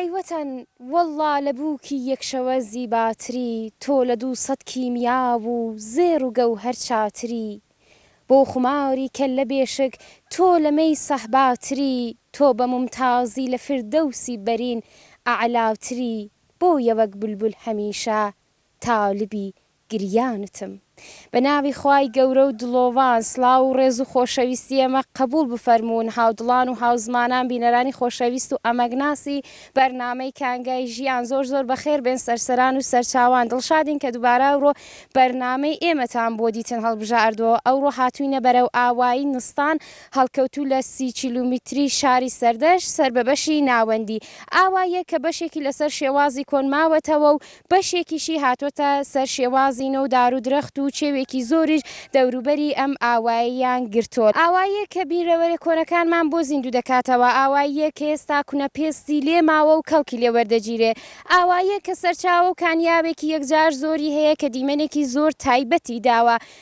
ئەی وەتەن وەڵڵا لە بووکی یەک شەوە زیباتری تۆ لە دوو سەد کیمیا و زێڕ و گەوهەر چاتری بۆ خوماری کەللە بێشک تۆ لە مەی سەهباتری تۆ بە مومتازی لە فردەوسی بەرین ئەعلاتری بۆیە وەک بولبول هەمیشە تالبی گریانتم بە ناوی خوای گەورە و دڵۆڤان سڵاو و ڕێز و خۆشەویستی ئێمە قەبوڵ بفەرموون هاودڵان و هاوزمانان بینەرانی خۆشەویست و ئەمەگناسی بەرنامەی کانگای ژیان زۆر زۆر بەخێر بێن سەرسەران و سەرچاوان دڵشادین کە دوبارە ئەورۆ بەرنامەی ئێمەتان بۆ دیتن هەڵبژاردوەوە ئەورۆ هاتوینە بەرەو ئاوایی نستان هەڵکەوتوو لە سی کیلومیتری شاری سەردەشت سەر بە بەشی ناوەندی ئاواییە کە بەشێکی لەسەر شێوازی کۆن ماوەتەوە و بەشێکیشی هاتۆتە سەر شێوازی نۆ و دار و درەخت و چێوێکی زۆریش دەوروبەری ئەم ئاوایەیان گرتۆت، ئاواییەک کە بیرەوەرە کۆنەکانمان بۆ زیندوو دەکاتەوە، ئاواییەک کە ئێستا کونە پێستی لێ ماوە و کەڵکی لێ وەردەگیرێ، ئاواییەک کە سەرچاوە و کانیاوێکی یەکجار زۆری هەیە کە دیمەنێکی زۆر تایبەتی داوە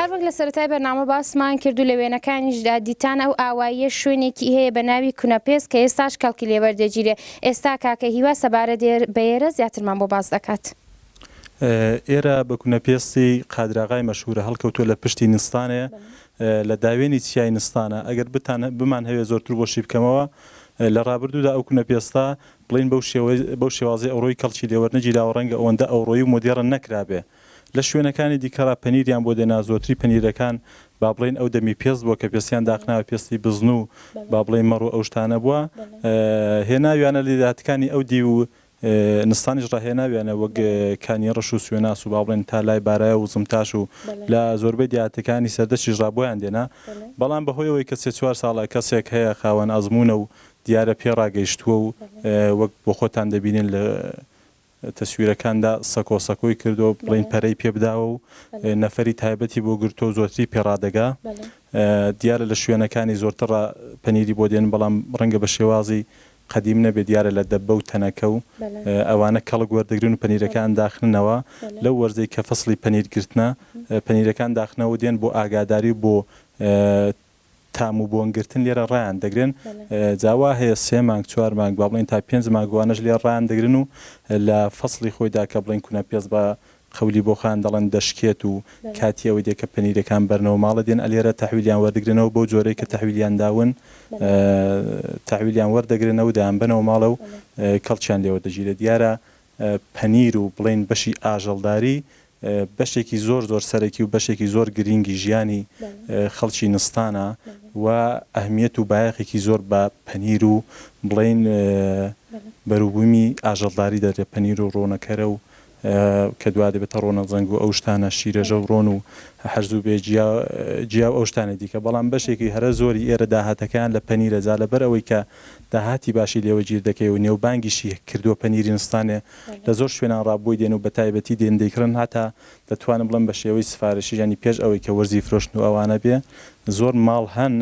هەروەک لە سەرەتای بەرنامە باسمان کرد و لە وێنەکانیشدا دیتان ئەو ئاواییە شوێنێکی هەیە بە ناوی کونەپێست کە ئێستاش کەڵکی لێ وەردەگیرێ، ئێستا کاکە هیوا سەبارەت بەێرە زیاترمان بۆ باس دەکات. ئێرە بە کونەپێستی قادراغای مەشهوورە، هەڵکەوتووە لە پشتی نستانێ لە داوێنی چیای نستانە، ئەگەر بتان بمانهەوێ زۆرتر بۆشی بکەمەوە، لە ڕابردوودا ئەو کونەپێستە بڵێین بەو شێوەی بەو شێوازەی ئەوڕۆی کەڵکی لێ وەرنەگیراوە، ڕەنگە ئەوەندە ئەوڕۆیی و مۆدێڕن نەکرابێ، لە شوێنەکانی دیکەڕا پەنیریان بۆ دێنا، زۆرتری پەنیرەکان با بڵێین ئەو دەمی پێست بووە کە پێستیان داخناوە، پێستی بزن و با بڵێین مەڕ و ئەو شتانە بووە هێناویانە، لە دێهاتەکانی ئەو دیو و نستانیش ڕا هێناویانە وەک کانی ڕەش و سوێناس و با بڵێین تا لای بارایۆ و زمتاش و لە زۆربەی دێهاتەکانی سەردەشتیش ڕا بۆیان دێنا، بەڵام بە هۆی ئەوەی کە سێ چوار ساڵە کەسێک هەیە خاوەن ئەزموونە و دیارە پێ ڕاگەیشتووە و وەک بۆ خۆتان دەبینن لە تەسویرەکاندا سەکۆ سەکۆی کردوە بڵێین پەرەی پێ بداوە و نەفەری تایبەتی بۆ گرتوە و زۆرتری پێ ڕادەگا دیارە لە شوێنەکانی زۆرترڕ پەنیری بۆ دێن بەڵام ڕەنگە بە شێوازی قەدیم نەبێت دیارە لە دەبە و تەنەکە و ئەوانە کەڵک وەردەگرن و پەنیرەکان داخننەوە لەو وەرزەی کە فەسڵی پەنیر گرتنە پەنیرەکان داخنەوە دێن بۆ ئاگاداری و بۆ تام و بۆن گرتن لێرە ڕایان دەگرن جا وا هەیە سێ مانگ چوار مانگ با بڵێین تا پێنج مانگ وانەش لێ ڕان دەگرن و لە فەسڵی خۆیدا کە بڵێین کونە پێست بە قەولی بۆخان دەڵێن دەشکێت و کاتی ئەوەی دێ کە پەنیرەکان بەرنەوە ماڵە دێن ئەلێرە تەحویلیان وەردگرنەوە بەو جۆرەی کە تەحویلیان داون تەحویلیان وەردەگرنەوە دەیان بەنەوە ماڵە و کەڵکیان لێوە دەگیرێت دیارە پەنیر و بڵێین بەشی ئاژەڵداری بەشێکی زۆر زۆر سەرەکی و بەشێکی زۆر گرینگی ژیانی خەڵکی نستانە و ئەهمیەت و بایەخێکی زۆر بە پەنیر و بڵێین بەروبوومی ئاژەڵداری دەدرێت پەنیر و ڕۆنەکەرە و کە دوا دەبێتە ڕۆنە زەنگ و ئەو شتانە شیرەژە و ڕۆن و هەرزوو بێ جیا و ئەو شتانە دیکە بەڵام بەشێکی هەرە زۆری ئێرە داهاتەکەیان لە پەنیرە جا لەبەر ئەوەی کە داهاتی باشی لێوە گیر دەکەی و نێوبانگیشی کردووە پەنیری نستانێ لە زۆر شوێنان ڕا بۆی دێن و بە تایبەتی دێن دەیکڕن هەتا دەتوانم بڵێم بە شێوەی سفارشیش یانی پێش ئەوەی کە وەرزی فرۆشتن و ئەوانە بێ زۆر ماڵ هەن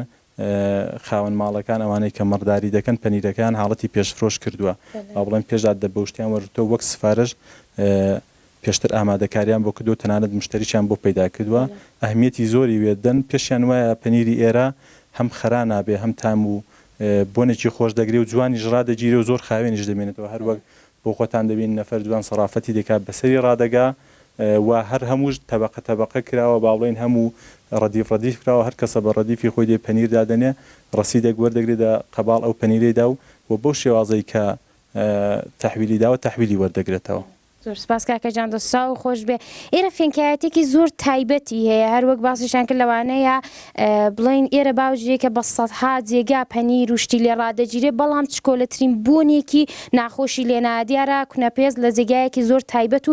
خاوەن ماڵەکان ئەوانەی کە مڕداری دەکەن پەنیرەکەیان حاڵەتی پێش فرۆش کردووە با بڵێم پێش داددە بەوشتیان وەرگرتووە وەک سفارش پێشتر ئامادەکاریان بۆ کردووە تەنانەت مشتەریشیان بۆ پەیدا کردووە ئەهمیەتی زۆری وێدەن پێشیان وایە پەنیری ئێرە هەم خەرا نابێ هەم تام و بۆنێکی خۆش دەگرێ و جوانیش ڕادەگیرێ و زۆر خاوێنیش دەمێنێتەوە هەر وەک بۆ خۆتان دەبینن نەفەر جوان سەرافەتی دەکات بەسەری ڕادەگا و هەر هەمووش تەبەقە تەبەقە کراوە با بڵێین هەموو ڕەدیف ڕەدیف کراوە هەر کەسە بە ڕەدیفی خۆی دێ پەنیر دادەنێ ڕەسیدێک وەردەگرێ دە قەباڵ ئەو پەنیرەی دا و بەو شێوازەی کە تەحویلی داوە تەحویلی وەردەگرێتەوە. زۆر سوپاس کاکە جان دەست چاو خۆش بێ ئێرە فێنکایەتێکی زۆر تایبەتی هەیە هەر وەک باسیشان کرد لەوانەیە بڵێن ئێرە باوجێ کە بە سەدها جێگا پەنیر و شتی لێ ڕادەگیرێ بەڵام چکۆلەترین بۆنێکی ناخۆشی لێ نایە دیارە کونەپێست لە جێگایەکی زۆر تایبەت و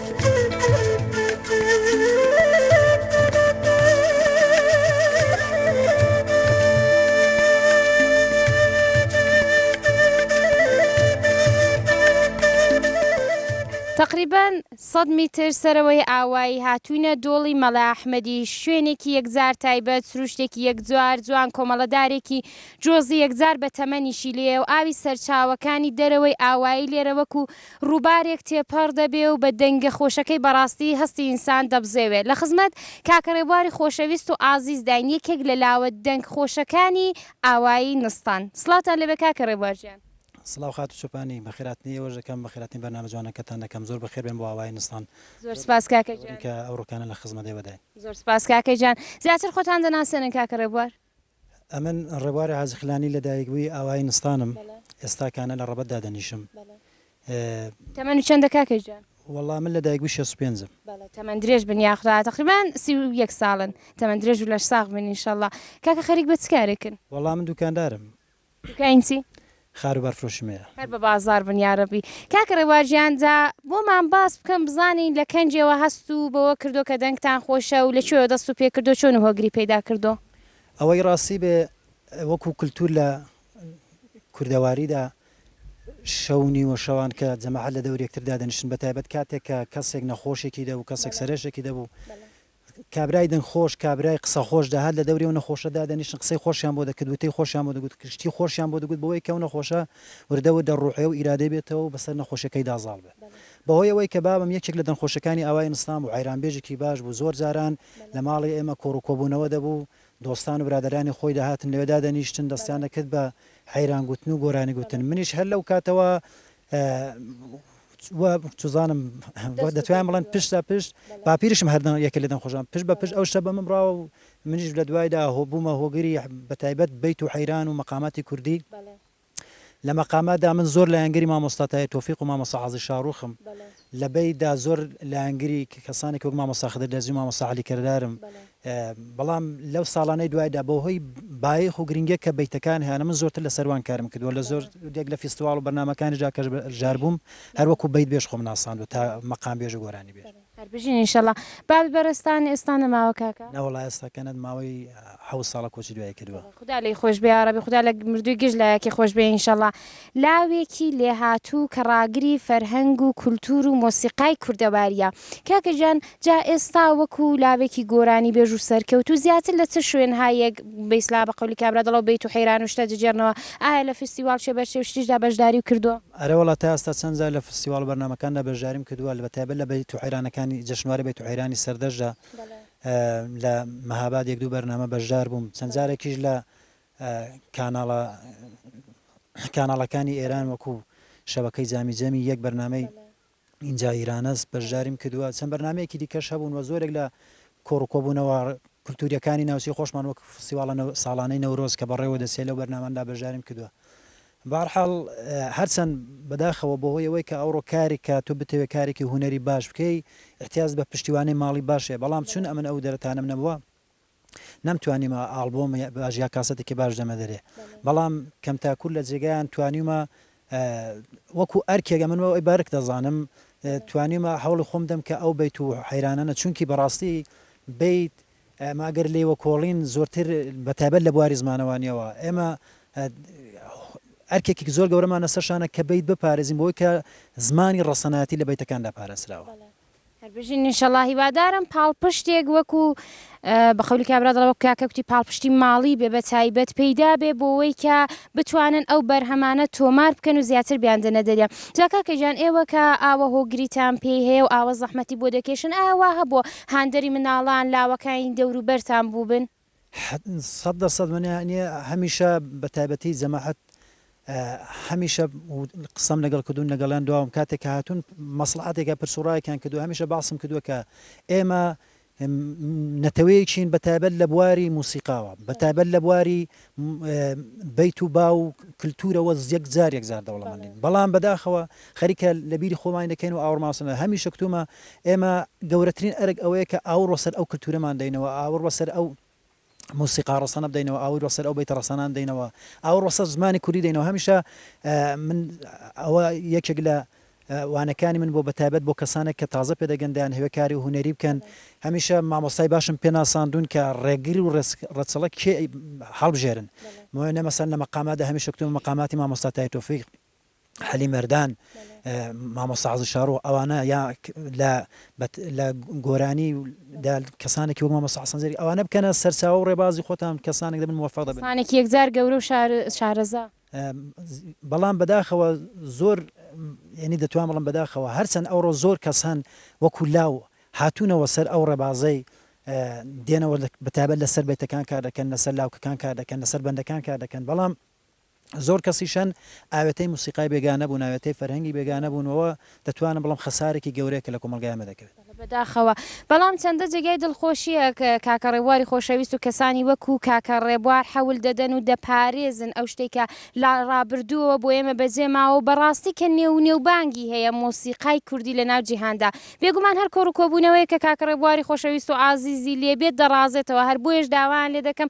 تەقریبەن سەد میتر سەرەوەی ئاوایی هاتووینە دۆڵی مەلا ئەحمەدی، شوێنێکی یەکجار تایبەت، سروشتێکی یەکجار جوان، کۆمەڵەدارێکی جۆزی یەکجار بە تەمەنیشی لێیە و ئاوی سەرچاوەکانی دەرەوەی ئاوایی لێرە وەکوو ڕوبارێک تێپەڕ دەبێ و بە دەنگە خۆشەکەی بەڕاستی هەستی ئینسان دەبزێوێ لە خزمەت کاکە ڕێبواری خۆشەویست و ئازیزداین یەکێک لە لاوە دەنگ خۆشەکانی ئاوایی نستان سڵاوتان لێبێ کاکە ڕێبوار گیان. سڵاو خاتوو چۆپانی، بەخێراتنی ئێوەش دەکەم، بەخێراتنی بەرنامە جوانەکەتان دەکەم، زۆر بەخێربێن بۆ ئاوایی نستان. زۆر سپاس کاکە گیان. دەوری کە ئەو ڕوکانە لە خزمەت ئێوەداین. زۆر سپاس کاکە گیان. زیاتر خۆتان دەناسێنن کاکە ڕێبوار. ئەمن ڕێبوار حاجی خلانی لە دایک بووی ئاوایی نستانم ئێستا کانە لە ڕەبەت دادەنیشم ئێ. تەمەن چەندە کاکە گیان. وەڵا من لە دایک بووی شەست و پێنجم. بەڵێ تەمەن درێژ بن یاخوا تەقریبان سی و یەک ساڵن تەمەن درێژ و لەش ساغ بن انشاللە کاکە خەریک بە چ کارێکن. وەڵا من دوکاندارم دوکاین چی؟ خاروبار فرۆشی مەیە. هەر بە بازاڕ بن یارەبی. کاک ڕێبوار گیان جا بۆمان باس بکەن بزانین لە کەنجێوە هەست و بەوە کردۆ کە دەنگتان خۆشە و لە کوێوە دەست و پێ کردۆ چۆن و هۆگری پەیدا کردۆ؟ ئەوەی ڕاستی بێ وەکوو کلتوور لە کوردەواری دا شەو و نیوە شەوان کە جەماعەت لە دەور یەکتر دادەنیشتن بە تایبەت کاتێک کە کەسێک نەخۆشێکی دەبوو کەسێک سەرێشێکی دەبوو کابرای دەنگ خۆش، کابرای قسە خۆش دەهات لە دەوری ئەو نەخۆشە دادەنیشتن قسەی خۆشیان بۆ دەکرد وتەی خۆشیان بۆ دەگوت شتی خۆشیان بۆ دەگوت بەوەی کە ئەو نەخۆشە وردە وردە ڕوحێ و ئیرادەی بێتەوە و بەسەر نەخۆشیەکەیدا زاڵ بێ بەهۆی ئەوەی کە بابم یەکێک لە دەنگخۆشەکانی ئاوای ئنسلام بوو عەیران بێژێکی باش بوو زۆر جاران لە ماڵی ئێمە کۆڕ و کۆبوونەوە دەبوو دۆستان و برادەرانی خۆی دەهاتن لەوێ دادەنیشتن دەستیان دەکرد بە عەیران گوتن و گۆرانی گوتن منیش هەر لەو کاتەوە وا چزانم وە دەتوانم بڵێن پشت لە پشت باپیرشم هەردەم یەکە لەدەم خۆشان پشت بە پشت ئەو شتە بەمم ڕاوە و منیش لە دوایدا هۆ بوومە هۆگری بە تایبەت بیت و حەیران و مەقاماتی کوردی لە مەقاماتدا من زۆر لایەنگری مامۆستاتای تۆفیق و مامۆستا عازی شاڕوخم لە بەی دا زۆر لایەنگری کەسانێک وەک مامۆستا خدر دەرزی و مامۆستا عەلی کردارم بەڵام لەو ساڵانەی دوایدا بە هۆی بایخ و گرنگێک کە بەیتەکان هیانە من زۆرتر لە سەروان کارم کردووە لە زۆر دێک لە فیستواڵ و بەرنامەکانی جا کەش ژار بووم هەروەکو بەیت بێژ خۆم ناساندوە تا مەقام بێژ و گۆرانی بێژ. هەر بژین ان شاءاللە. بابی بەڕێزتان ئێستا نەماوە کاکە؟ نا وەڵا ئێستا کەنەد ماوەی حەوت ساڵە کۆچی دوایی کردووە. خودا لێی خۆش بێ یاڕەبی خودا لە مردووی گشت لایەکی خۆش بێ ان شاءاللە. لاوێکی لێهاتوو کە ڕاگری فەرهەنگ و کولتوور و مۆسیقای کوردەوارییە. کاکە گیان جا ئێستا وەکو لاوێکی گۆرانیبێژ و سەرکەوتوو زیاتر لە چ شوێنهایەک، بە ئیسلاح بە قەولی کابرا دڵە و بەیت و حەیران و شتە دجێڕنەوە، ئایا لە فیستیواڵ چێ بەر چێ و شتیشدا بەشداریو کردووە؟ ئەرێ وەڵا تا ئێستا چەند جار لە فیستیواڵ و بەرنامەکاندا بەشداریم کردووە، بە تایبەت لە بەیت و حەیرانەکانی جەشنوارەی بەیت و حەیرانی سەردەشتدا لە مەهاباد یەک دوو بەرنامە بەشدار بووم، چەند جارێکیش لە کاناڵە کاناڵەکانی ئێران وەکوو شەبەکەی جامی جەمی یەک بەرنامەی ئینجا ئیرانەس بەشداریم کردووە چەند بەرنمەیەکی دیکەش هەبوون وە زۆرێک لە کۆڕکۆبوونەوە کللتوریەکانی ناوچی خۆشمان وەک فسیواڵە ساڵانەی نەورۆز کە بەڕێوە دەسێ لەو بەرناماندا بەشداریم کردووە بارحاڵ هەرچەند بەداخەوە بۆ هۆی ئەوەی کە ئەوڕۆ کارێک کە تو بتەوێت کارێکی هوەری باش بکەی احتیاز بە پشتیوانی ماڵی باشێ بەڵام چون ئەمن ئەو دەرتانم نەبووە نەمتوانیمە ئاڵبۆم باش یا کاسەتێکی باش دەمە دەرێ بەڵام کەم تاکوور لە جێگایان توانیمە وەکو ئەرکێگە من ئەوی بارک دەزانم توانیمە هەوڵی خۆم دەم کە ئەو بیت و حەیرانانە چونکی بەڕاستی بیت ماگەر لێوە کۆڵین زۆرتر بەتابەت لە بواری زمانەوانیەوە ئێمە ئەرکێکی زۆر گەورەمانە سەرشانە کە بیت بپارێزین بۆی کە زمانی ڕەسەناتی لە بیتەکاندا پارێزراوە هەر بژین انشاللە هیوادارم پاڵپشتێک وەکو بە قەولی کابرا دەڵێ وەک کاکە کوتی پاڵپشتی ماڵی بێ بە تایبەت پەیدا بێ بۆوەی کە بتوانن ئەو بەرهەمانە تۆمار بکەن و زیاتر بیاندنە دەریا جا کاکە گیان ئێوە کە ئاوە هۆگریتان پێی هەیە و ئاوە زەحمەتی بۆ دەکێشن ئایا وا هەبووە هاندەری مناڵان لاوەکانی دەوروبەرتان بووبن؟ سەد دەر سەد منێ نیە هەمیشە بە تایبەتی جەماعەت هەمیشە قسەم لەگەڵ کردوون لەگەڵیان دواوم کاتێک کە هاتوون مەسلحاتێکە پرس و ڕایەکیان کردو هەمیشە باسم کردووە کە ئێمە نەتەوەیەکین بە تایبەت لە بواری موسیقاوە بە تایبەت لە بواری بیت و با و کللتورەوە یەک جار یەک جار دەوڵەمەندین بەڵام بەداخەوە خەریکە لە بیری خۆمانی دەکەین و ئاوڕمان بەسەر ناکەین. هەمیشە گوتوومە ئێمە گەورەترین ئەرک ئەوەیە کە ئاوڕ بەسەر ئەو کلتوورەمان دەینەوە، ئاوڕ بەسەر ئەو مۆسیقا ڕەسەنە بدەینەوە، ئاوڕ بەسەر ئەو بەیتە ڕەسەنان دەینەوە، ئاوڕ بەسەر زمانی کوردی دەینەوە. هەمیشە من ئەوە یەکێک لە وانەکانی من بووە بە تایبەت بۆ کەسانێک کە تازە پێ دەگەن دەیانهەوێ کاری هونەری بکەن. هەمیشە مامۆستای باشم پێ ناساندوون کە ڕێگر و ڕێچڵەک کێ هەڵبژێرن. بۆیە مەسەلەن لە مەقاماتدا هەمیشە گوتوومە مەقاماتی مامۆستا تای تۆفیق، حەلی مەردان مامۆستا عەزیز شاڕۆ ئەوانە یا لە لە گۆرانی و کەسانێکی وەک مامۆستا حەسەن زێری ئەوانە بکەنە سەرچاوە و ڕێبازی خۆتان کەسانێک دەبن موفق دەبن کەسانێکی یەکجار گەورە و شارەزا بەڵام بەداخەوە زۆر یعنی دەتوان بڵم بەداخەوە هەرچەند ئەوڕۆ زۆر کەس هەن وەکو لاو هاتوونەوە سەر ئەو ڕێبازەی دێنەوە بەتابەت لەسەر بێتەکان کار دەکەن لەسەر لاوکەکان کار دەکەن لەسەر بەندەکان کار دەکەن بەڵام زۆر کەسیش هەن ئاوێتەی موسیقای بێگانە بوون، ئاوێتەی فەرهەنگی بێگانە بوون و دەتوانم بڵێم خەسارێکی گەورەیە کە لە کۆمەڵگای ئێمە دەکەوێت. بەداخەوە، بەڵام چەندە جێگای دڵخۆشییە کە کاکە ڕێبواری خۆشەویست و کەسانی وەکوو کاکە ڕێبوار حەول دەدەن و دەپارێزن ئەو شتەی کە لە ڕابردووەوە بۆ ئێمە بەجێ ماوە و بەڕاستی کە نێو و نێوبانگی هەیە مۆسیقای کوردی لە ناو جیهاندا. بێگومان هەر کۆڕ و کۆبوونەوەیەک کە کاکە ڕێبواری خۆشەویست و عازیزی لێ بێت دەڕازێتەوە، هەر بۆیەش داوایان لێ دەکەم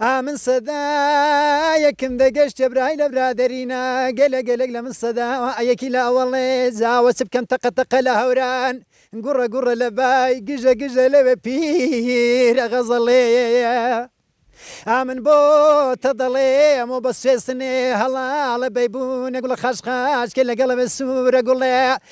ئامن سەدا یەکم دەگەشت جەبرای لە برادەرینا گەلە گەلەک لە من سەدا یەکی لە ئەوەڵێ زاوە چ بکەم تەقە تەقە لە هەوران گوڕە گوڕە لە بای گژە گژە لەوێ پیرە غەزەڵەیە ئامن بۆ تە دەڵێ ئەمە بە سێسنێ هەڵاڵە بەیبوونە گوڵە خاش خاش کە لەگەڵە بە سوورە گوڵێ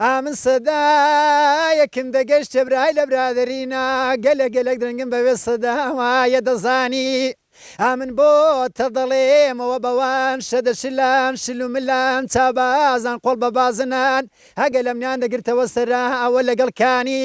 ئامن سەدا یە کم دە گە شتە برای لە برا دە رینا گە لە گە لە درنگم بە وێ سە دا وا یە دە زانی ئامن بۆ تە دە ڵێ مە وە بە وان شە دە شلان شل و ملان چا بازان قۆڵ بە بازنان هە گە لە منیان دە گرتە وە سە را وە لە گە ڵ کانی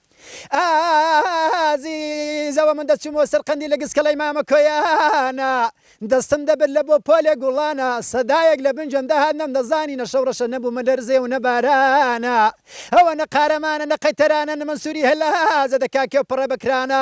ئازیزەوە من دەچومەوە سەر قەندیلە گسکەڵەی مامە کۆیانە دەستم دەبرد لە بۆ پۆلێ گوڵانە سەدایەک لە بن گوێم دەهات نەمدەزانی نە شەو ڕەشە نەبوومە لەرزێ و نە بارانە ئەوە نە قارەمانە نە قەیتەرانە نە مەنسوری هەلازە دەکا کێو پڕە بە کرانە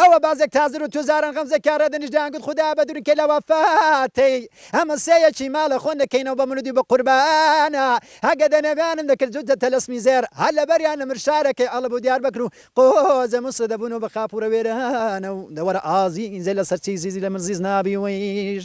ئەوە بازێک تازر و توزارن غەمزە کارە دەنیش دەیان گوت خودا بە دورن کەی لە وە فاتەی ئەمە سێ یەکی ما لە خۆن دەکەینەوە بە مولودی بە قوربانە هەگە دە نەویانم دەکرد جوت دە تەلەسمی زێر هەر لە بەر یان نمر شارە کەی ئەڵب و دیار بەکر و قۆ زە موسە دە بونەوە بە خاپورە وێرانە و دە وەرە ئازی زێ لە سەر چی زیزی لە مل زیز نابی ویژ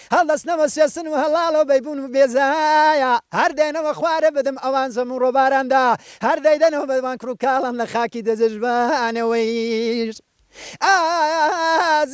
هەڵدەستنەوە سوێسن و هەڵاڵۆ بەیبوون و بێزایا هەر دێنەوە خوارێ بدم ئەوان زەم و ڕۆباراندا هەر دەیدەنەوە بەدوان کڕ و کاڵان لە خاکی دەجەژبانەوەیش ئازیز.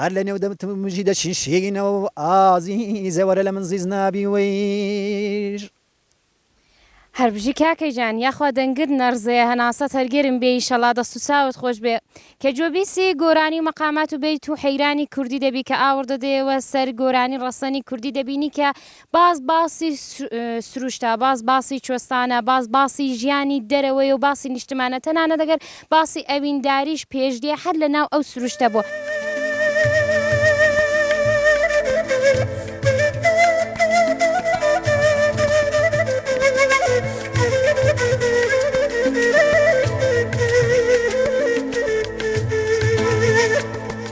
هەر لە نێو دەمتمژی دەچی شینەوە و ئازیزە وەرە لە من زیز نابی وەیر. هەر بژی کاکە گیان یاخوا دەنگت نەڕزێ هەناسەت هەر گەرم بێ ئیشەڵا دەست و چاوت خۆش بێ کە گوێ بیسی گۆرانی و مەقامات و بەیت و حەیرانی کوردی دەبی کە ئاوڕ دەدەیەوە سەر گۆرانی ڕەسەنی کوردی دەبینی کە باز باسی سروشتە، باز باسی کوێستانە، باز باسی ژیانی دەرەوەیە و باسی نیشتمانە، تەنانەت ئەگەر باسی ئەوینداریش پێش دێ هەر لە ناو ئەو سروشتە بووە.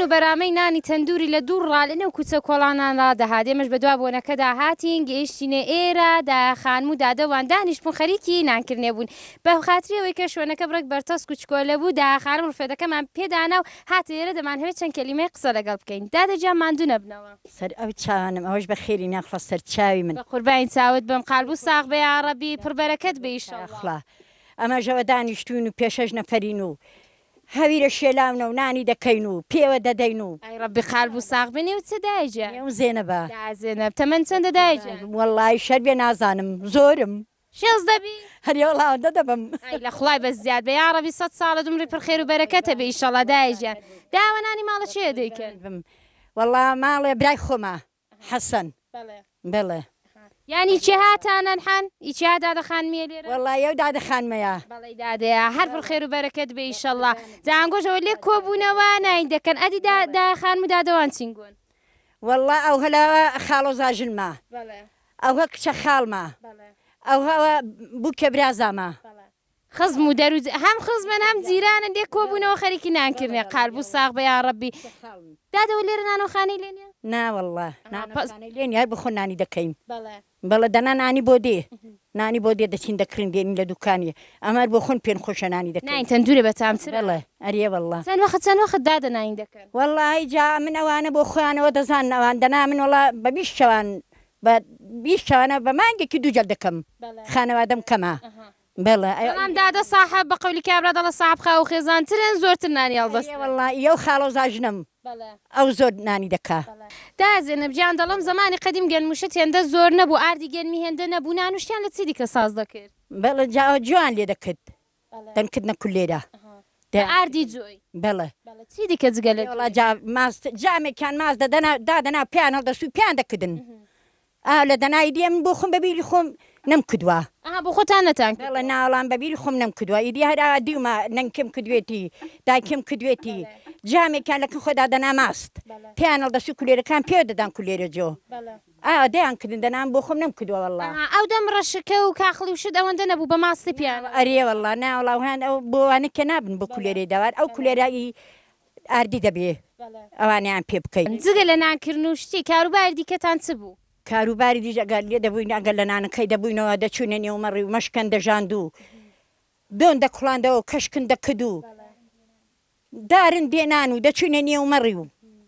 بۆن و بەرامەی نانی تەندووری لە دوور ڕا لە نێو کوچە کۆڵانان ڕا دەهات، ئێمەش بە دوا بۆنەکەدا هاتین، گەیشتینە ئێرە، دایە خانم و دادە وان دانیشتبوون خەریکی نان کردنێ بوون، بە خاتری ئەوەی کە شوێنەکە بڕێک بەرتەسک و چکۆلە بوو، دایە خانم ڕفێدەکەمان پێ دانا و هات لێرە دەمانهەوێت چەند کەلیمەیەک قسە لەگەڵ بکەین. دادە گیان ماندوو نەبنەوە. سەر ئەو چاوانەم ئەوەش بە خێری ناخوا سەر چاوی من. بەقوربانی چاوت بم قالب و ساغ بە یاڕەبی پڕ بەرەکەت بە ئیشەڵا. یاخوا ئەمەژەوە دانیشتوین و پێ شەش نەفەرین و هەویرە شێلاونە و نانی دەکەین و پێوە دەدەین و. ئای ڕەبی قالب و ساغ بی نێوت چە دایە گیان. نێوم زێنەبە. دایە زێنەب تەمەن چەندە دایە گیان. وەڵای شەربێ نازانم زۆرم. حیز دەبی هەر یە وەڵا ئەوەندە دەبم. ئای لە خوای بەس زیاد بە یاڕەبی سەد ساڵت عومری پر خێرو بەرەکەتە بێ ئیشەڵا دایە گیان دە ئەوە نانی ماڵە کێیە دەیکەن. وەڵا ماڵێ برای خۆمە حەسەن. بەڵێ بەڵێ. یانی کێ هاتان ئەلحەن ی کێ ها دادە خانمیە لێرە. وەڵا یەو دادە خانمەیە. بەڵی دادەیە هەر پر خێرو بەرەکەت بێ ئیشەڵا جا ئەنگۆش ئەوە لێک کۆ بونەوە ناین دەکەن ئەدی دا دایە خانم و دادەوان چینگۆن. وەڵا ئەوهەلە خاڵۆزاژنمە. بەڵێ. ئەوه کچە خاڵمە. ئەوه بووکە برازامە. خزم و دەرو جەران. هەم خزمن هەم جیرانن دێ کۆ بوونەوە خەریکی نان کردنێ قالب و ساغ بە یاڕەبی. کچە خاڵم. دادە وە لێرە نانەوخانەی لێ نیە؟ نا وەڵا نانەوخانەی لێ نیە هەر بە خۆ نانی دەکەین. بەڵێ دەنا نانی بۆ دێ. نانی بۆ دێ دەچین دەکڕین دێنین لە دوکانی ئەمە هەر بۆ خۆن پێن خۆشە نانی دەکەین. نانی تەندورە بە تام ترە. بەڵێ ئەرێ وەڵا. چەن وەخت چەن وەخت دادە نانی دەکەن؟ وەڵاهی جا من ئەوانە بۆ خۆیانەوە دەزانن ئەوان دەنا من وەڵا بە بیست شەوان بە بیست شەوانە بە مانگێکی دوو جەک دەکەم خانەوادەم کەمە بەڵێ ئەم دادە ساحب بە قەولی کابرا دەڵە ساحب خاو خێزانترن زۆرتر نانی هەڵدەست واللە یەو خاڵۆ زاژنم ئەو زۆر نانی دەکا. دایە زێنەب گیان دەڵێم زەمانی قەدیم گەنموشت هێندە زۆر نەبوو ئاردی گەنمی هێندە نەبوو نانوشتیان لە چی دیکە ساز دەکرد؟ بەڵێ جا جوان لێ دەکرد دەنگ کردنە کولێرە. بە ئاردی جۆی. بەڵێ. بەڵێ چی دیکە جگە لە جۆی. وەڵا جا ماس جامێکیان ماس دەدەنا دادەنا پێیان هەڵدەست و پێیان دەکردن. ئا لە دەنا ئیدی ئەمن بۆ خۆم بە بیری خۆم نەم کردوە. ئەها بۆ خۆتان نەتان کردوە. بەڵێ نا وەڵام بە بیری خۆم نەم کردوە ئیدی هەر ئاوا دیومە نەنکم کردوێتی دایکم کردوێتی جامێکیان لە کن خۆ دادەنا ماست پێیان هەڵدەست و کولێرەکان پێوە دەدان کولێرە جۆ. ئا دەیان کردن دەنام بۆ خۆم نەم کردوە وەڵا. ئەها ئەو دەم ڕەشەکە و کاخڵی و شت ئەوەندە نەبوو بە ماستی پیانە. ئەرێ وەڵا نا وەڵا وهان ئەو بۆ ئەوانە کە نابن بۆ کولێرەی دەوار ئەو کولێرە ی ئاردی دەبێ ئەوانەیان پێ بکەی. جگە لە نان کردن و شتی کاروباری دیکەتان چ بوو؟ کاروباری دیش ئەگەر لێ دەبووین ئەگەر لە نانەکەی دەبووینەوە دەچووینە نێو مەڕی و مەشکەن دەژاند و دۆن دەکوڵاندەوە و کەشکن دەکرد و. دارن بێ نان و دەچووینە نێو مەڕی و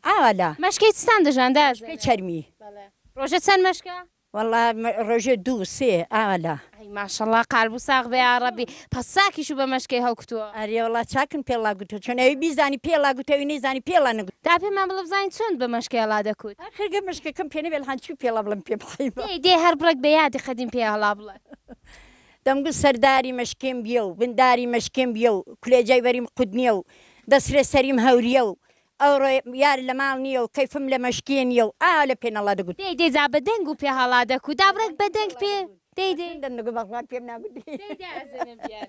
ئاوا لە. مەشکەی چتان دەژان دازێنێ. مەشکەی چەرمی. بەڵێ. ڕۆژێ چەند مەشکە؟ وەڵا ڕۆژێ دوو سێ ئاوا لە. ئەی ماشەڵڵا قال بوو ساغ بێ یاڕەبی. پەس چاکیش و بە مەشکەی هەڵکوتووە. ئەرێ وەڵا چاکن پێڵا گوتووە چۆن ئەوی بیزانی پێڵا گوتووە ئەوی نەیزانی پێڵا نەگوتووە. دا پێمان بڵێ بزانین چۆن بە مەشکەێڵا دەکوت. ئاخر گەر مەشکەکەم پێ نەبێ لەحاڵ چی پێڵا بڵێم پێ بڵێی بە. دەی دەی هەر بڕێک بە یادی قەدیم پێێڵا بڵێ. دەمگوت سەرداری مەشکێم بیە و بنداری مەشکێم بیە و کولێجای بەریم قوت نیە و دەسرێ سەریم هەوریە و ئەوڕۆ یار لە ماڵ نیە و کەیفم لە مەشکێ نیە و ئاوا لە پێنەڵا دەگوت. دەی دەی جا بە دەنگ و پێ هەڵا دەکوت دابڕێک بە دەنگ پێ دەی دەی. چەندم دەگوت بەخوا پێم ناگوتری. دەی دەی ئەزێنم بیار.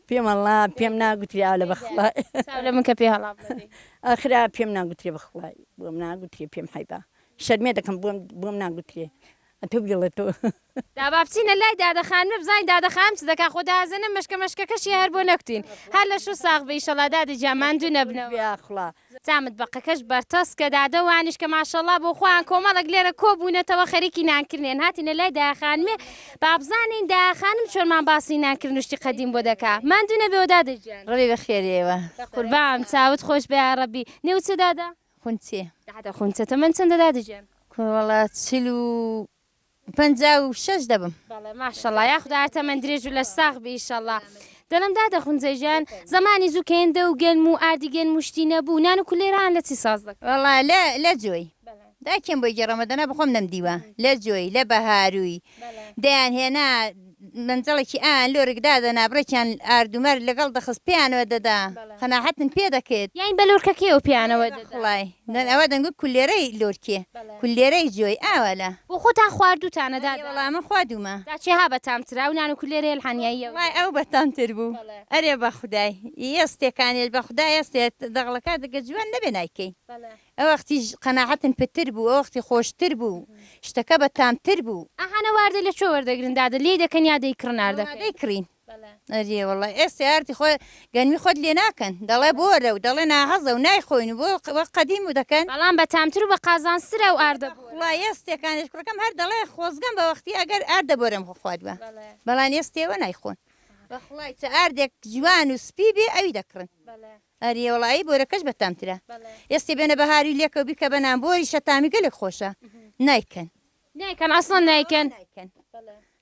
پێم هەڵا پێم ناگوتری ئاوا لە بەخوا. چاو لە من کە پێ هەڵا بڵێ دەی. ئاخر ئاوا پێم ناگوتری بەخوای بۆم ناگوتری پێم حەیبە شەرمێ دەکەم بۆم بۆم ناگوتری. ئەتو بگڵە تۆ. دا با بچینە لای دادە خانمە بزانین دادە خانم چ دەکا خۆ دازەنە مەشکە مەشکەکەشیە هەر بۆ نەکوتین هەر لەش و ساغ بی ئیشەڵا دادە گیان ماندوو نەبنەوە. جا متبەقەکەش بەرتەسکە دادە وانیش کە ماشەڵا بۆ خۆیان کۆمەڵێک لێرە کۆ بوونەتەوە خەریکی نان کردنێن هاتینە لای دایە خانمێ با بزانین دایە خانم چۆنمان باسی نان کردن و شتی قەدیم بۆ دەکا ماندوو نەبیەوە دادە گیان. ڕۆبی بەخێر ئێوە. قوربان چاوت خۆش بێ یاڕەبی. نێوت چیە دادە؟ خونچێ. دادە خونچە تەمەن چەندە دادە گیان. کوڕە وەڵا چل و پەنجا و شەش دەبم. بەڵێ ماشەڵا یاخودا هەر تەمەن درێژ و لەش ساغ بی ئیشەڵا. دەڵێم دادە خونچە گیان زەمانی زوو کێندە و گەنم و ئاردی گەنم و شتی نەبوو نان و کولێران لە چی ساز دەکرد؟ وەڵا لە لە جۆی. بەڵێ. داکێم بۆی گێڕەمە دەنا بەخۆم نەمدیوە. لە جۆی، لە بەهارووی، دەیان هێنا مەنجەڵێکی ئایان لۆرک دادەنا بڕێکیان ئارد و مەرد لەگەڵ دەخست پێیانەوە دەدا قەناحەتن پێ دەکرد. یانی بە لۆرکەکەیەوە پێیانەوە دەدا. بەخوڵای نەن ئەوە دەنگۆی کولێرەی لۆرکێ کولێرەی جۆی ئاوا لە. بۆ خۆتان خواردووتانە دادە؟ ئەرێ وەڵا من خواردوومە. جا چێ ها بەتام ترە ئەو نان و کولێرەی ئەلحانیاییەوە؟ وەڵای ئەو بەتام تر بوو. ئەرێ بەخودای یێستێ کانێل بەخودا یێستێ دەغڵەکە دگە جوان نەبێ نایکەی. ئەوەختی قەناعەتم پتر بوو ئەوەختی خۆشتر بوو شتەکە بە تامتر بوو. ئاهانە واردە لە کوێ وەردەگرن دادە لێی دەکەن یا دەیکڕن ئاردەکەی؟ دەیکڕین ئەرێ وەڵا ئێستا ئاردی خۆ گەنمی خۆت لێ ناکەن دەڵێ بۆرە و دەڵێ ناهەزە و نایخۆین و بۆ وەک قەدیم و دەکەن. بەڵام بە تامتر و بە قازانجترە ئەو ئاردە بۆرە. وەڵا ئێستێکانێش کوڕەکەم هەر دەڵێ خۆزگەم بە وەختی ئەگەر ئاردە بۆرەم خواردبا بەڵام ئێستێوە نایخۆن بەخوای چ ئاردێک جوان و سپی بێ ئەوی دەکڕن ئەرێ وەڵا ئەی بۆرەکەش بەتامترە ئێستی بێنە بەهاری لێکەو بیکە بە نان بۆریشە تامی گەلێک خۆشە نایکەن نایکەن ئەسڵەن نایکەن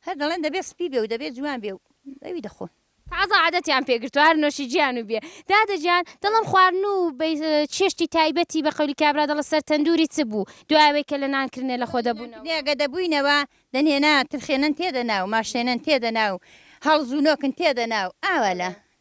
هەر دەڵێن دەبێ سپی بێ و دەبێ جوان بێ و ئەوی دەخۆن. تازە عادەتیان پێ گرتووە هەر نۆشی جیان و بێ. دادە گیان دەڵێم خواردن و چێشتی تایبەتی بە قەولی کابرا دەڵێ سەر تەندووری چ بوو دوای ئەوەی کە لە نان کرنێ لە خۆ دەبوونەوە. نێ گە دەبووینەوە دەنێنا ترخێنن تێدەنا و ماشێنن تێدەنا و هەڵز و نۆکن تێدەنا و ئاوا لە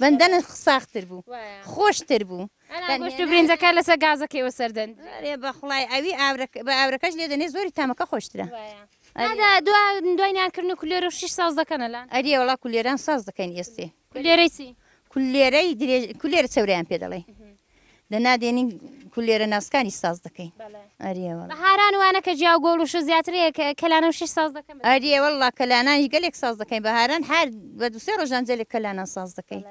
بەندەنە ساختر بوو خۆشتر بوو گوشت و برنجەکە لەسەر گازەکەیەوە سەردەن بەخڵای ئەوی بە ئاورەکەش لێ دەنێ زۆری تامەکە خۆشترە دوایان کردن و کولێرە شش ساز دەکەنە لە ئەری وڵا کولێران ساز دەکەین ئێستی کولێرەی کولێرەی کولێرە چەوریان پێ دەڵێ دەنا دێنین کولێرە ناسکانی ساز دەکەین ئەریەوە بەهاران وانە کە جیاو گۆڵ و شە زیاترەیە کە کەلانە شش ساز دەکەم ئەریەوە لا کەلانانی گەلێک ساز دەکەین بەهاران هەر بە دوسێ ڕۆژان جەلێک کەلانە ساز دەکەین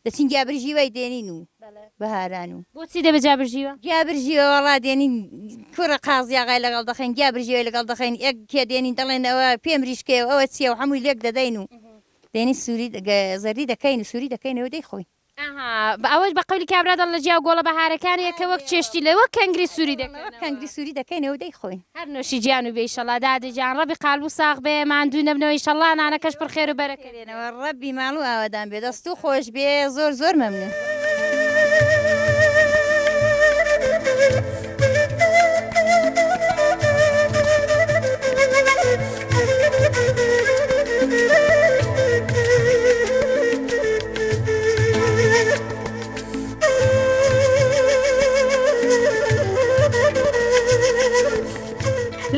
دەچین گیابرژی وای دێنین و بەهاران و بۆچی دەبێت جابرژیوە گیابرژیەوە ڕا دێنین کوڕە قازیاغای لەگەڵ دەخین گیابرژیەوە لەگەڵ دەخین ئەک کێ دێنین دەڵێن ئەوە پێم ریشکەیە ئەوە چیە و هەمووی لێک دەدەین و دێنی سووری زەردی دەکەین و سووری دەکەینەوە دەی خۆین ئەوەش بە قەولی کابرا دەڵ لە جیا گۆڵە بەهارەکان یە کە وەک چێشتی لە وەک کەنگری سووری دەکەن وەک کەنگری سووری دەکەینەوە و دەیخۆین. هەر نۆشی جان و بێ ئیشەڵا دادە جان ڕەبی قالبو ساغ بێ ماندوو نەبنەوە ئیشەڵا نانەکەش پڕ خێرو بەرەکەت بێ. ڕەبی ماڵ و ئاوەدان بێ. دەستو خۆش بێ زۆر زۆر مەمنون.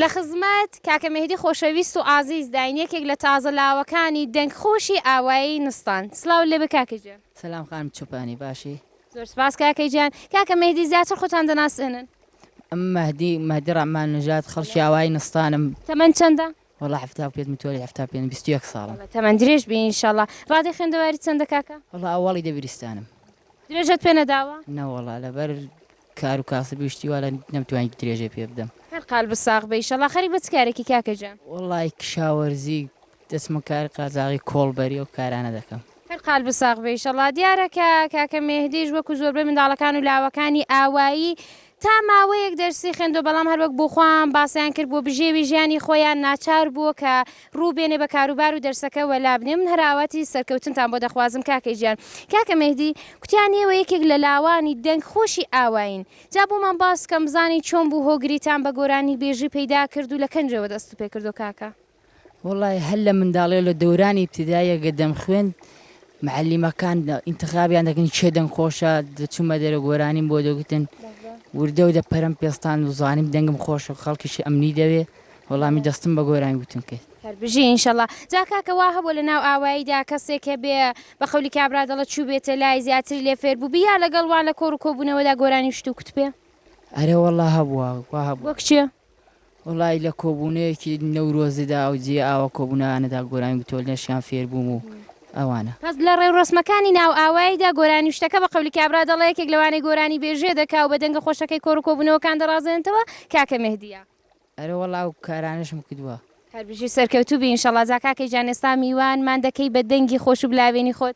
لە خزمەت کاکە مێهدی خۆشەویست و ئازیز داین یەکێک لە تازە لاوەکانی دەنگ خۆشی ئاوایی نستان سڵاو لێبێ کاکە گیان. سلام خانم چۆپانی باشی؟ زۆر سپاس کاکە گیان کاکە مەهدی زیاتر خۆتان دەناسێنن مەهدی مەهدی ڕەحمان نژاد خەڵکی ئاوایی نستانم تەمەن چەندە وڵا هەفتا پێت متوەری هەفتا پێ بیست یەک ساڵم تەمەن درێژ بی ئینشاءاللە ڕادەی خوێندەواری چەندە کاکە وڵا ئەوەڵی دەبیرستانم درێژەت پێ نەداوە نەوەڵا لەبەر کار و کاسب و شتی وا لە نەمتوانی درێژەی پێ بدەم هەر قالبت ساغ بی ئینشاءاللە خەریک بە چ کارێکی کاکە گیان وڵی کشاوەرزی دەچمە کار قاجاغی کۆڵبەری ئەو کارانە دەکەم. هەر قالب ساغ بێ ئیشەڵا. دیارە کە کاکە مێهدیش وەکو زۆربەی منداڵەکان و لاوەکانی ئاوایی تا ماوەیەک دەرسی خوێندوە بەڵام هەروەک بۆ خۆیان باسیان کرد بۆ بژێوی ژیانی خۆیان ناچار بووە کە ڕوو بێنێ بە کاروبار و دەرسەکە وەلا بنێ من هەر ئاواتی سەرکەوتنتان بۆ دەخوازم کاکە گیان. کاکە مێهدی کوتیان ئێوە یەکێک لە لاوانی دەنگ خۆشی ئاوایین جا بۆمان باس بکەن بزانین چۆن بوو هۆگریتان بە گۆرانی بێژی پەیدا کرد و لە کەنجەوە دەستت پێ کردو کاکە؟ وەڵا هەر لە منداڵی و لە دەورانی ئیبتیداییە گە دەمخوێند معلیمەکان ئینتخابیان دەکەن چێ دەنگ خۆشە دەچوومە دەرە گۆرانیم بۆ دەگوتن وردە و دەپەرم پێستان و زانیم دەنگم خۆشە خەڵکیشی ئەمنی دەوێ وەڵامی دەستم بە گۆرانی گوتن کرد هەربژی ئینشەڵا جا کاکە وا هەبوو لە ناو ئاواییدا کەسێک هەبێ بە قەولی کابرا دەڵە چوو بێتە لای زیاتری لێ فێر بوو بیا لەگەڵ وان لە کۆڕ و کۆبوونەوەدا گۆرانی شت و کوتپێ ئەرێ وەڵا هەبووە وا هەبووە کچێ وەڵایی لە کۆبوونەیەکی نەورۆزدا و جێی ئاوە کۆبوونەوانەدا گۆرانی بتۆلنەشیان فێر بووم و ئەوانە. بەس لە ڕێوڕەسمەکانی ناو ئاواییدا گۆرانی و شتەکە بە قەولی کابرا دەڵێ یەکێک لەوانەی گۆرانی بێژێ دەکا و بە دەنگە خۆشەکەی کۆڕ و کۆبوونەوەکان دەڕازێنێتەوە کاکە مێهدیە. ئەرێ وەڵا ئەو کارانەشم کردووە. هەربژی و سەرکەوتوو بی ئینشەڵا. جا کاکە گیان ئێستا میوان مان دەکەی بە دەنگی خۆش و بلاوێنی خۆت.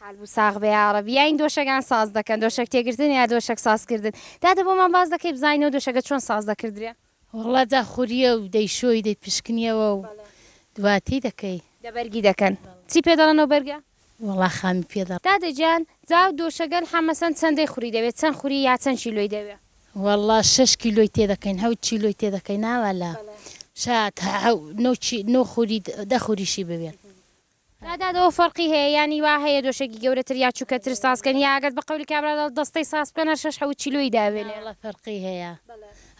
قالبو ساغ بێ یاڕەبی. یاین دۆشەگان ساز دەکەن دۆشەک تێگرتن یا دۆشەک ساز کردن دادە بۆمان باس دەکەی بزانینەوە دۆشەگە چۆن ساز دەکردرێ. وەڵا داخوریە و دەیشۆی دەیپشکنیەوە و دواتی دەکەی. دە بەرگی دەکەن چی پێ دەڵێن ئەو بەرگە. وەڵا خامی پێ دەڵێن. دادە گیان جا دۆشەگە الحە مەسەن چەن دەی خوری دەوێ چەن خوری یا چەن کیلۆی دەوێ. وەڵا شەش کیلۆی تێ دەکەین هەوت کیلۆی تێ دەکەین ناوالە شا تا حەو نۆ خوری دە خوریشی بوێت. دادەوە فەرقی هەیە یانی وا هەیە دۆشەکی گەورەتر یا چوکەتر ساز کەن یا ئەگەر بە قەولی کابرا دەڵێ دەستەی ساز بکەن هەر شەش حەوت چیلۆی دابێنێ. ناوەڵا فەرقی هەیە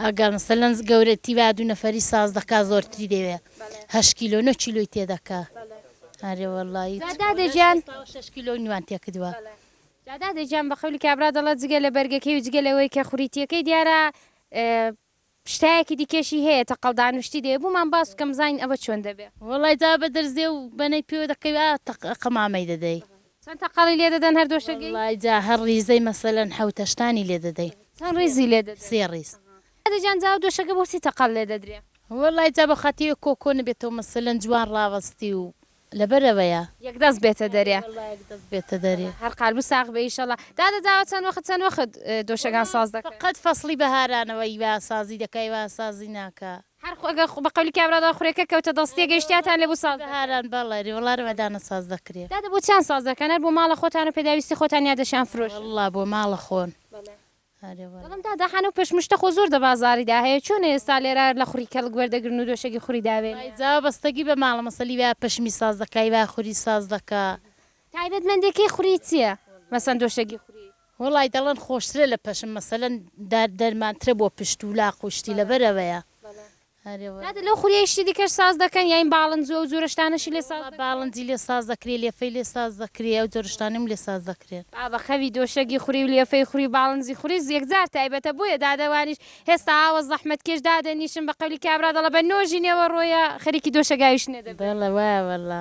ئەگەر مەسەلەن گەورەتی با دوو نەفەری ساز دەکا زۆرتری دەوێ هەشت کیلۆ نۆ کیلۆی تێ دەکا ئەرێ وەڵایی جا دادە گیان. شێست و شەش کیلۆی نوان تێ کردوە. جا دادە گیان بە قەولی کابرا دەڵێ جگە لە بەرگەکەی و جگە لەوەی کە خوریتیەکەی دیارە شتایەکی دیکەشی هەیە تەقەڵ دان و شتی دەوێ بۆمان باس بکە بزانین ئەوە چۆن دەبێ. وەڵای جا بە دەرزێ و بەنەی پێوە دەکەوی ئا تەق قەمامەی دەدەی. چەند تەقەڵی لێ دەدەن هەر دۆشەگەی؟ وەڵای جا هەر ڕیزەی مەسەلەن حەوت هەشتانی لێ دەدەی. چەند ڕیزی لێ دەدەن؟ سێ ڕیز. دادە جان جا ئەو دۆشەگە بۆچی تەقەڵ لێ دەدرێ؟ وەڵای جا بە خاتیێ کۆکۆ نەبێتەوە مەسەلەن جوان ڕاوەستی و لەبەر ئەوەیە. یەک دەست بێتە دەرێ. ئەرێ واللە یەک دەست بێتە دەرێ. هەر قالبو ساغ بێ ئیشەڵا. دادە داوە چەند وەخت چەند وەخت دۆشەکان ساز دەکەن؟ وەڵا فەقەت فەسڵی بەهارانەوە ی وا سازی دەکا ی وا سازی ناکا. هەر خو ئەگەر خو بە قەولی کابرا دا خورێکە کەوتە دڵ ستێ گەیشتیاتان لێ بوو ساز دەکەن. بەهاران بەڵێ ئەرێ وەڵا رەمەدانە ساز دەکرێ. دادە بۆچیان ساز دەکەن هەر بۆ ماڵە خۆتان و پێداویستی خۆتان یا دەشیان فرۆشن؟ وەڵا بۆ ماڵە خۆن. بەڵێ. دڵم دادا حانە و پێش مشتە خۆ زۆر دە بازاری دا هەیە چۆنە ئێستا لێرا لە خوری کەڵک وەر دەگرن و دۆشەگی خوری داوێنێ. وای جاوە بەستەگی بە ماڵە مەسە لی وایە پەشمی ساز دەکا ی وایە خوری ساز دەکا. تایبەت مەندێ کەی خوری چیە مەسەن دۆشەگی خوری. وەڵای دەڵەن خۆشترە لە پەشم مەسەلەن دار دەرمانترە بۆ پشت و لاق و شتی لەبەر ئەوەیە ئەرێ واللە. نادر لەو خولیەی شتی دیکەش ساز دەکەن یاین باڵندو ئەو جۆرە شتانەشی لێ ساز دەکرێ؟ ئەرێ واللە باڵندی لێ ساز دەکرێ لێفەی لێ ساز دەکرێ ئەو جۆرە شتانەم لێ ساز دەکرێن. بابە خەوی دۆشەگی خوری و لێفەی خوری و باڵندی خوری یەکجار تایبەتە بۆیە دادە وانیش هێستا ئاوە زەحمەت کێش دادەنیشن بە قەولی کابرا دەڵە بە نۆژی نێوەڕۆیە خەریکی دۆشەگاویشنە دەبن. بەڵێ وایە واللە.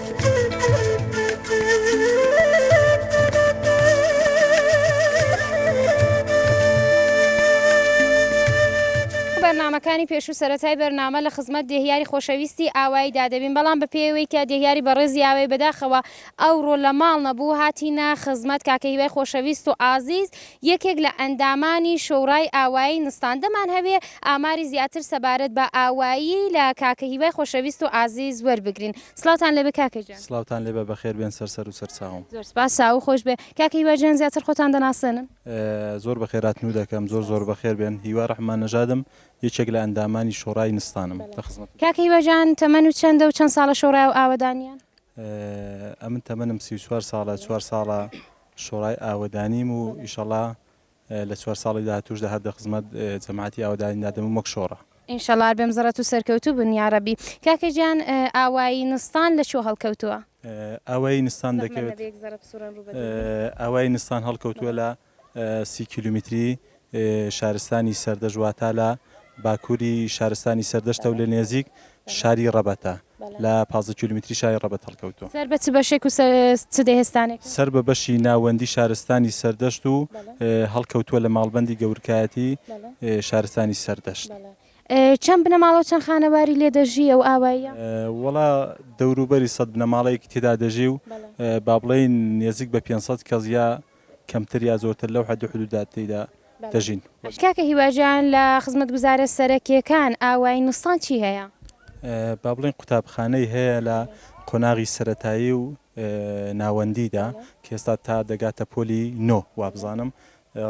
بەرنامەکانی پێشوو سەرەتای بەرنامە لە خزمەت دێهیاری خۆشەویستی ئاوایی دادەبین بەڵام بە پێوەی کە دێهیاری بەڕێزی ئاوای بەداخەوە ئەوڕۆ لە ماڵ نەبوو هاتینە خزمەت کاکە هیوای خۆشەویست و ئازیز یەکێک لە ئەندامانی شۆڕای ئاوایی نستان دەمان هەوێ ئاماری زیاتر سەبارەت بە ئاوایی لە کاکە هیوای خۆشەویست و ئازیز وەربگرین. سڵاوتان لێبێ کاکە گیان. سڵاوتان لێبێ بەخێر بێن سەر سەر و سەر چاوم. زۆر سپاس چاوو خۆش بێ. کاکە هیوا گیان زیاتر خۆتان دەناسێنن؟ زۆر بەخێراتنو دەکەم زۆر زۆر بەخێر بێن هیوا رحمان نەژادم یەکێک لە ئەندامانی شۆڕای نستانم لە خزمەتتان. کاکە هیوا گیان تەمەن و چەندە و چەند ساڵە شۆڕای و ئاوەدانیان؟ ئەمن تەمەنم سی و چوار ساڵە چوار ساڵە شۆڕای ئاوەدانیم و ئیشەڵا لە چوار ساڵی داهاتووشدا هەر دە خزمەت جەماعەتی ئاوەدانی دادەمم وەک شۆڕە. ئینشەڵا هەر بێم زڕت و سەرکەوتوو بن یاڕەبی. کاکە گیان ئاوایی نستان لە کوێ هەڵکەوتووە؟ ئاوایی نستان دەکەوێت. زەحمەت نەبێ یەک زەڕە بسوڕێن ڕوو بەدوو بێت. ئاوایی نستان هەڵکەوتووە لە سی کیلومیتری شارستانی سەردەشت واتا لە باکووری شارستانی سەردەشتە و لە نێزیک شاری ڕەبەتە لە پازدە کیلومتری شاری ڕەبەت هەڵکەوتووە. سەر بە چ بەشێک و سەر چ دێهستانێکە؟ سەر بە بەشی ناوەندی شارستانی سەردەشت و هەڵکەوتووە لە ماڵبەندی گەورکایەتی شارستانی سەردەشت. چەند بنەماڵە و چەند خانەواری لێ دەژی ئەو ئاواییە؟ وەڵا دەوروبەری سەد بنەماڵەیەکی تێدا دەژی و با بڵێین نێزیک بە پێنج سەد کەس یا کەمتر یا زۆرتر لەو حەد و حدودا تێیدا دەژین. کاکە هیوا جان لە خزمەتگوزارە سەرەکیەکان ئاوایی نوستان چی هەیە؟ با بڵێین قوتابخانەی هەیە لە قۆناغی سەرەتایی و ناوەندیدا کە ئێستا تا دەگاتە پۆلی نۆ وابزانم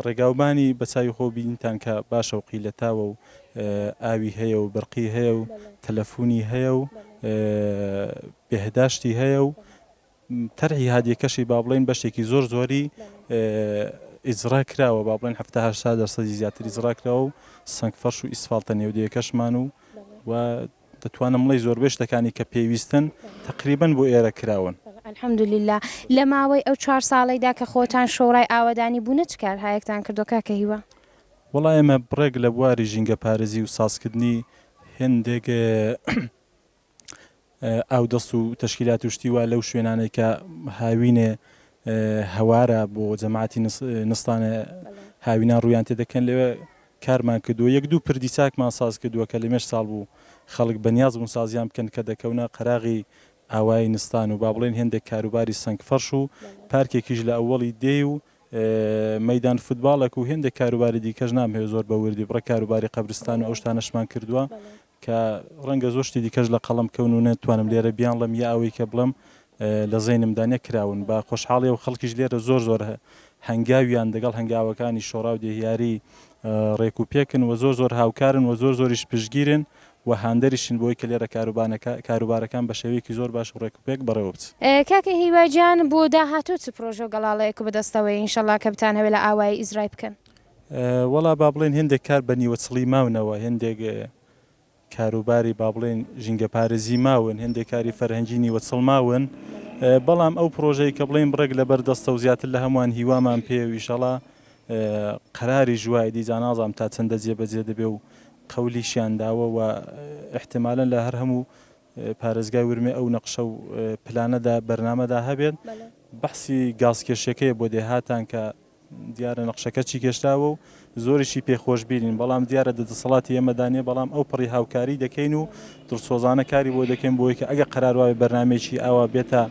ڕێگاوبانی بە چاوی خۆ بینتان کە باشە و قیلەتاوە و ئاوی هەیە و برقی هەیە و تەلەفونی هەیە و بێهداشتی هەیە و تەرحی هادیەکەشی با بڵێین بەشێکی زۆر زۆری ئیجڕا کراوە با بڵێن هەفتا هەشتا دەرسەدی زیاتر ئیجڕا کراوە و سەنگ فەرش و ئیسفالتە نێودەیەکەشمان و و دەتوانم بڵێ زۆربەی شتەکانی کە پێویستن تقریبن بۆ ئێرە کراون. الحمدللە لە ماوەی ئەو چوار ساڵەیدا کە خۆتان شۆڕای ئاوەدانی بوونە چ کارهایەکتان کردووە کاکە هیوا؟ وەڵا ئێمە بڕێک لە بواری ژینگەپارێزی و سازکردنی هێندێک ئاودەست و تەشکیلات و شتی وا لەو شوێنانەی کە هاوینێ هەوارە بۆ جەماعەتی نستانە هاوینان ڕوویان تێ دەکەن لەوێ کارمان کردووە یەک دوو پردی چاکمان ساز کردووە کە لەمێش ساڵ بوو خەڵک بەنیاز بوون سازیان بکەن کە دەکەونە قەراغی ئاوایی نستان و با بڵێن هێندێک کاروباری سەنگ فەرش و پارکێکیش لە ئەوەڵی دێی و مەدان فوتباڵێک و هێندێک کاروباری دیکەش نامهێ زۆر بە وردی بڕە کاروباری قەبرستان و ئەو شتانەشمان کردووە کە ڕەنگە زۆر شتی دیکەش لە قەڵەم کەون و نەتوانم لێرە بیانڵێم یا ئەوەی کە بڵێم لە زەینمدا نەکراون بە خۆشحاڵیەوە خەڵکیش لێرە زۆر زۆر هەنگاویان دەگەڵ هەنگاوەکانی شۆڕا و دێهیاری ڕێک و پێکن و زۆر زۆر هاوکارن و زۆر زۆریش پشتگیرن و هاندەریشن بۆی کە لێرە کاروبانەکە کاروبارەکان بە شێوەیەکی زۆر باش و ڕێک و پێک بەڕێوە بچ. کاکە هیوا گیان بۆ داهاتوو چ پرۆژە و گەڵاڵەیەک و بەدەستەوەیە ئینشەڵا کە بتانهەوێ لە ئاوایی ئیزرای بکەن؟ وەڵا با بڵێین هێندێک کار بە نیوە چڵی ماونەوە، هێندێک کاروباری با بڵێین ژینگەپارێزی ماون، هێندێک کاری فەرهەنگی نیوە چڵ ماون، بەڵام ئەو پڕۆژەی کە بڵێین بڕێک لەبەر دەستە و زیاتر لە هەمووان هیوامان پێیە و ئیشەڵا قەراریش وایە، دی جا نازانم تا چەندە جێبەجێ دەبێ و قەولیشیان داوە و ئیحتیمالەن لە هەر هەموو پارێزگای ورمێ ئەو نەقشە و پلانەدا بەرنامەدا هەبێت، بەحسی گازکێشیەکەیە بۆ دێهاتان کە دیارە نەقشەکە چی گێشتاوە و زۆریشی پێ خۆشبیرین، بەڵام دیارە دە دەسەڵاتی ئێمەدا نیە، بەڵام ئەو پڕی هاوکاری دەکەین و دڵسۆزانە کاری بۆ دەکەین بۆوەی کە ئەگەر قەرار وابێ بەرنامەیەکی ئاوا بێتە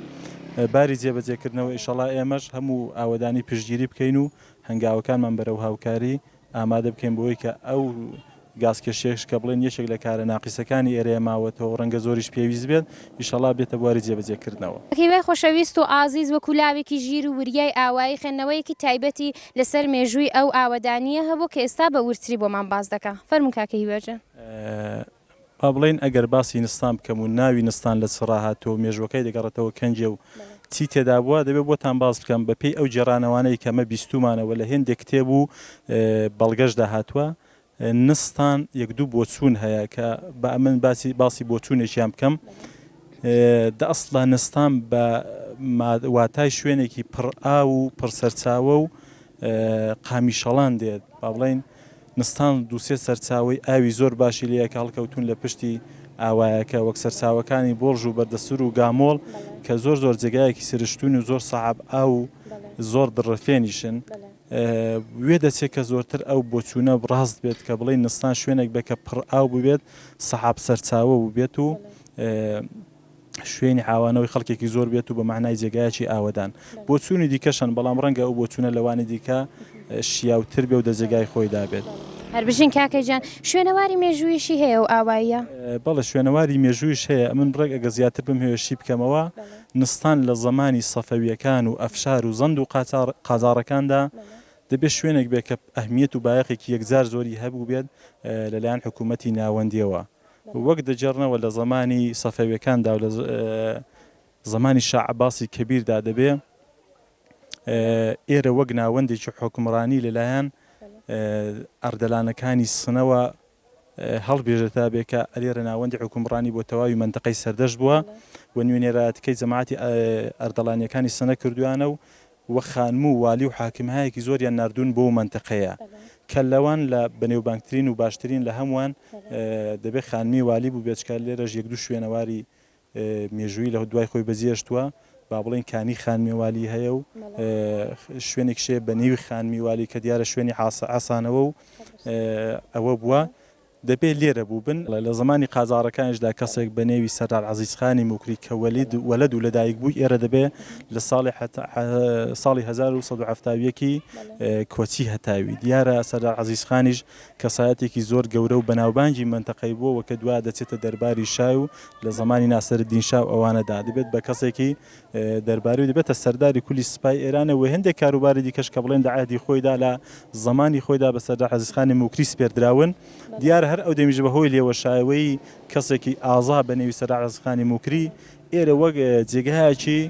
باری جێبەجێکردنەوە ئیشەڵا ئێمەش هەموو ئاوەدانی پشتگیری بکەین و هەنگاوەکانمان بەرەو هاوکاری ئامادە بکەین بەوەی کە ئەو گازکێشیەش کە بڵێن یەکێک لە کارە ناقیسەکانی ئێرەیە ماوەتەوەو رەنگە زۆریش پێویست بێت، ئیشەڵا بێتە بواری جێبەجێ کردنەوە. هیوای خۆشەویست و ئازیز وەکو لاوێکی ژیر و وریای ئاوایی خوێندنەوەیەکی تایبەتی لەسەر مێژووی ئەو ئاوەدانییە هەبوو کە ئێستا بە وردتری بۆمان باس دەکا. فەرموون کاکە هیوا جان. با بڵێین ئەگەر باسی نستان بکەم و ناوی نستان لە چ ڕا هاتووە و مێژووەکەی دەگەڕێتەوە کەنجێ و چی تێدا بووە، دەبێ بۆتان باس بکەم بە پێی ئەو گێڕانەوانەی کە مە بیستوومانە و لە هێندێک کتێب و بەڵگەش دا هاتووە، نستان یەک دوو بۆچوون هەیە کە با ئەمن باسی باسی بۆچوونێکیان بکەم. دە ئەسڵا نستان بە ما واتای شوێنێکی پڕ ئاو و پڕ سەرچاوە و قامیشەڵان دێت. با بڵێین نستان دوو سێ سەرچاوەی ئاوی زۆر باشی لێیە کە هەڵکەوتوون لە پشتی ئاوایەکە وەک سەرچاوەکانی بۆڵژ و بەردەسور و گامۆڵ کە زۆر زۆر جێگایەکی سرشتوون و زۆر سەعب ئاو و زۆر دڕفێنیشن وێ دەچێت کە زۆرتر ئەو بۆچوونە ڕاست بێت کە بڵێن نستان شوێنێک بێت کە پڕ ئاو ببێت سەعب سەرچاوە بووبێت و شوێنی ئاوانەوەی خەڵکێکی زۆر بێت و بە مەعنای جێگایەکی ئاوەدان بۆچوونی دیکەشان بەڵام ڕەنگە ئەو بۆچوونە لەوانی دیکە شیاوتر بێ و دە جێگای خۆی دابێت. هەربژین کاکە گیان شوێنەواری مێژوویشی هەیە و ئاواییە؟ بەڵێ شوێنەواری مێژوویش هەیە ئەمن ڕێک ئەگە زیاتر بم هەوێ شی بکەمەوە نستان لە زەمانی سەفەویەکان و ئەفشار و زەند و قاچاڕ قاجاڕەکاندا دەبێ شوێنێک بێ کە ئەهمیەت و بایەخێکی یەکجار زۆری هەبوو بێت لەلایەن حکوومەتی ناوەندیەوە وەک دەگێڕنەوە لە زەمانی سەفەویەکاندا و لە زەمانی شا عەباسی کەبیردا دەبێ ئێرە وەک ناوەندێکی حۆکمڕانی لەلایەن ئەردەلانەکانی سنەوە هەڵبێژێتا بێ کە ئەلێرە ناوەندی حکومڕانی بۆ تەواوی منتەقەی سەردەشت بووە و نوێنێرایەتەکەی جەماعەتی ئەردەڵانیەکانی سنە کردویانە و و خانم و والی و حاکمهایەکی زۆریان ناردوون بۆو مەنتەقەیە کە لەوان لە بەنێوبانگترین و باشترین لە هەمووان دەبێ خانمی والی بووبێت چکە لێرەش یەک دوو شوێنەواری مێژووی لە دوای خۆی بەجێشتووە با بڵێن کانی خانمی والی هەیە و شوێنێک شێ بە نێوی خانمی والی کە دیارە شوێنی عاسە عسانەوە و ئەوە بووە دەبێ لێرە بووبن. لە زەمانی قاجاڕەکانیشدا کەسێک بە نێوی سەردار عەزیزخانی موکری کە وەلید، وەلەد، و لە دایک بووی ئێرە دەبێ لە ساڵی حەتا، حە، ساڵی هەزار و سەد و حەفتا و یەک ی کۆچی هەتاوی. دیارە سەردار عەزیزخانیش کەسایەتێکی زۆر گەورە و بەناوبانگی مەنتەقەی بووە و کە دوا دەچێتە دەرباری شای و لە زەمانی ناسرەدین شا و ئەوانەدا دەبێت بە کەسێکی دەرباری و دەبێتە سەرداری کولی سپای ئێرانێ و هێندێک کاروباری دیکەش کە بڵێن دە عەهدی خۆیدا لە زەمانی خۆیدا بە سەردار عەزیزخانی موکری سپێردراون. دیارە هەر ئەو دەمیش بە هۆی لێوەشایەوەی کەسێکی ئازا بە نێوی سەردار عەزیزخانی موکری ئێرە وەک جێگایەکی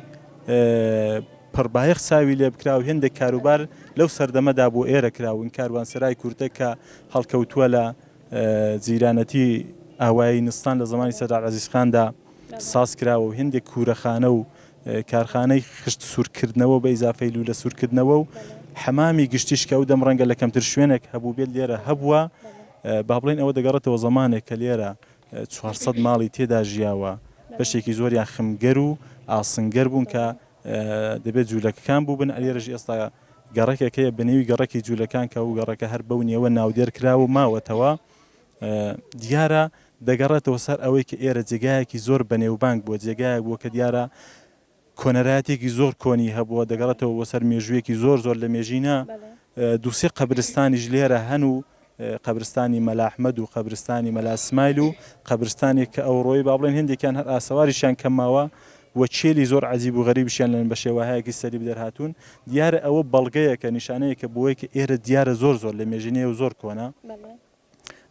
پڕ بایەخ چاوی لێ بکرا و هێندێک کاروبار لەو سەردەمەدا بۆ ئێرە کراون کاروانسەرای کورتە کە هەڵکەوتووە لە جیرانەتی ئاوایی نستان لە زەمانی سەردار عەزیز خاندا ساز کراوە و هێندێک کورەخانە و کارخانەی خشت سوورکردنەوە بە ئیزافەی لوولە سوورکردنەوە و حەمامی گشتیش کە ئەو دەم ڕەنگە لە کەمتر شوێنێک هەبووبێت لێرە هەبووە با بڵێین ئەوە دەگەڕێتەوە زەمانێک کە لێرە چوار سەد ماڵی تێدا ژیاوە بەشێکی زۆریان خمگەر و ئاسنگەر بوون کە دەبێت جوولەکەکان بووبن لێرەش ئێستا گەڕەکێک هەیە بە نێوی گەڕەکی جولەکان کە ئەو گەڕەکە هەر بەو نێوە ناودێر کراوە و ماوەتەوە. دیارە دەگەڕێتەوە سەر ئەوەی کە ئێرە جێگایەکی زۆر بەنێوبانگ بووە، جێگایەک بووە کە دیارە کۆنەرایەتێکی زۆر کۆنی هەبووە، دەگەڕێتەوە بۆ سەر مێژوویەکی زۆر زۆر لە مێژینە. دوو سێ قەبرستانیش لێرە هەن و قەبرستانی مەلا ئەحمەد و قەبرستانی مەلا سمایل و قەبرستانێک کە ئەوڕۆی با بڵێن هێندێکیان هەر ئاسەواریشیان کەم ماوە و چێلی زۆر عەجیب و غەریبیشیان لەن بە شێوەهایەکی سەری بدەر هاتوون، دیارە ئەوە بەڵگەیەکە، نیشانەیەکە بۆی کە ئێرە دیارە زۆر زۆر لە مێژینەیە و زۆر کۆنە.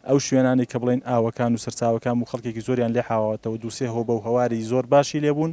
ئەو شوێنانەی کە بڵێین ئاوەکان و سەرچاوەکان بوو خەڵکێکی زۆریان لێ حاواوەتەوە، دوو سێ هۆبە و هەواری زۆر باشی لێ بوون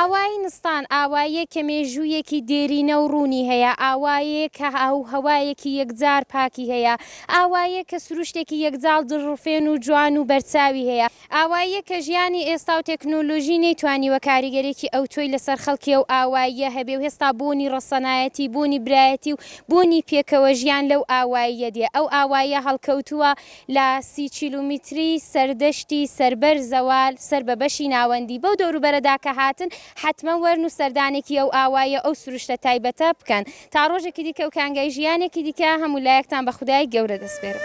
ئاوایی نستان ئاواییە کە مێژوویەکی دێرینە و ڕوونی هەیە، ئاوایەیە کە ئاو و هەوایەکی یەکجار پاکی هەیە، ئاواییە کە سروشتێکی یەکجاڵ دڵڕفێن و جوان و بەرچاوی هەیە، ئاواییە کە ژیانی ئێستا و تێکنۆلۆژی نەیتوانیوە کاریگەریەکی ئەوتۆی لەسەر خەڵکی ئەو ئاواییە هەبێ و هێستا بۆنی ڕەسەنایەتی، بۆنی برایەتی و بۆنی پێکەوە ژیان لەو ئاواییە دێ. ئەو ئاواییە هەڵکەوتووە لە سی کیلۆمیتری سەردەشتی سەربەر زەوال سەر بە بەشی ناوەندی. بەو دەوروبەرەدا کە هاتن حەتمەن وەرن و سەردانێکی ئەو ئاواییە ئەو سروشتە تایبەتە بکەن. تا ڕۆژێکی دیکە و کانگای ژیانێکی دیکە هەموو لایەکتان بە خودای گەورە دەسپێرم.